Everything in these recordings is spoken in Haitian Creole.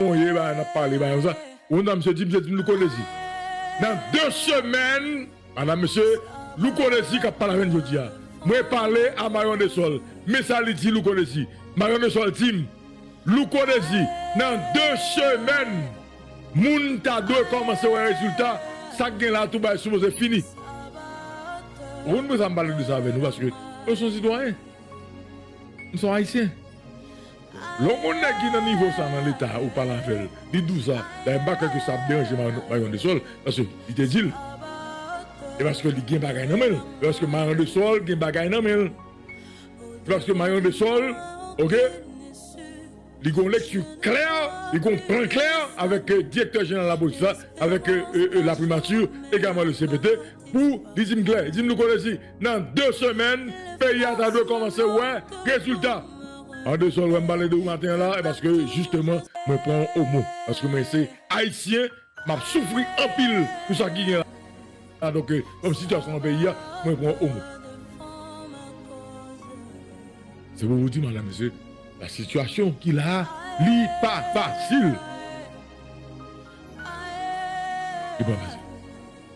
Bon ye ba nap pale ba nou sa bon nan mesye di mesye di loukolezi nan de semèn a nan mesye loukolezi kap pale avèn jodia mwen pale a mayon de sòl men sa li di loukolezi mayon de sòl dim loukolezi nan de semèn moun ta dwe kòmanse wè rezilta sak gen la toubay sipoze fini ou konn poukisa m pale de sa avè nou paske mwen son sitwayen m son ayisyen. Lè w konn nèg ki nan nivo sa nan leta ou pale avè l li dous la dayè m pa kwè ke sa ap deranje Mayon de Sol paske li te di l e paske li gen bagay nan men l e paske Mayon de Sol gen bagay nan men l e paske Mayon de Sol ok li gon lekti klè li gon plan klè avèk direktè jeneral lapolis la avèk laprimati egalman le CPT pou li di m klè li di m nou konnen si. Nan 2 semèn peyi a ta dwe kòmanse wè rezilta. Andesol wèm pale de ou maten an la e paske jisteman mwen pran ou o mo paske mwen se ayisyen map soufri anpil pou sa ki gen la donk kòm sityasyon nan peyi a mwen pran ou o mo. Se pou ou di madan mesye la sityasyon ki la li pa fasil. Li pa fasil.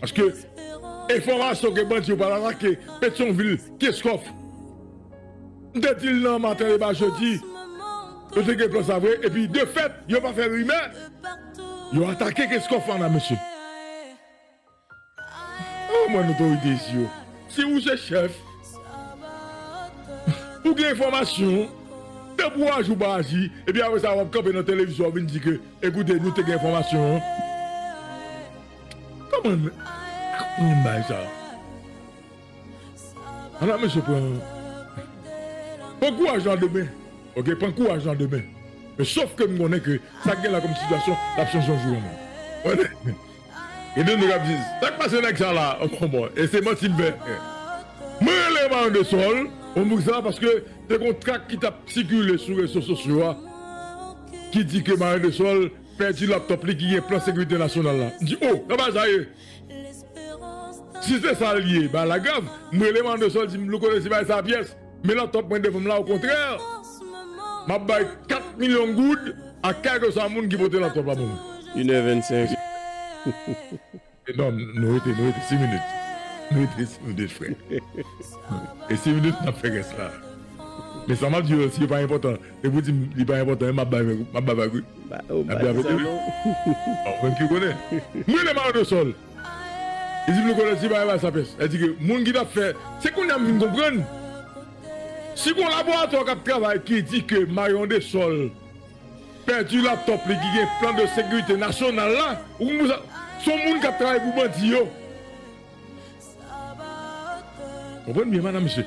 Paske enfòmasyon ke bandi yo pral atake Petyonvil, Keskòf. M te di l nan maten deba jedi, yo te gen plan sa vre epi de fèt yo pa fè rimè, yo atake Keskòf la mesye. An mwen otorite isi yo, si ou se chèf, ou gen enfòmasyon, tanpri w aji ou pa aji epi apre sa w ap kanpe nan televizyon w ap vin di ke ekoute nou te gen enfòmasyon an. Koman nou aprann bagay sa. Ala mesye pran. Pran kouraj lan demen ok pran kouraj lan demen men sof ke m konnen ke sa k gen la kom sitiyasyon lap chanje yon jou yon lè gen de nou kap di sak pase nèg sa la e se manti m fè mwen rele mayon de sol bon pou kisa paske te gon trak ki tap sikile sou rezo sosyo a ki di ke mayon de sol Pèdi laptop li ki gen plan sekirite nasyonal la. M di oh nan bagay sa ye. Si se sa l ye bagay la grav. M rele Mandersol l di m Louko resi bay sa pyès. Men laptop mwen devan m la okontrè m ap bay 4 milyon goud a kèlkeswa moun ki pote laptop la ban mwen. Inè vennsenk. Non nou rete nou rete 6 minit nou rete 6 minit frè e 6 minit nap fè rès la men sa map di yo si yo pa enpòtan e pou dim li pa enpòtan map bay vag map bay vag wi nap bay vag wi ou menm ki konnen m renmen mayo de sòl li dim li konnen si pa bay sa pès sa di ke moun ki tap fè se kounya m vin konprann si gon laboratò kap travay ki di ke mayon de sòl. Pèdi laptop li ki gen plan de sekirite nasyonal la ou konn pou sa son moun kap travay pou bandi yo konprann byen madam mesye.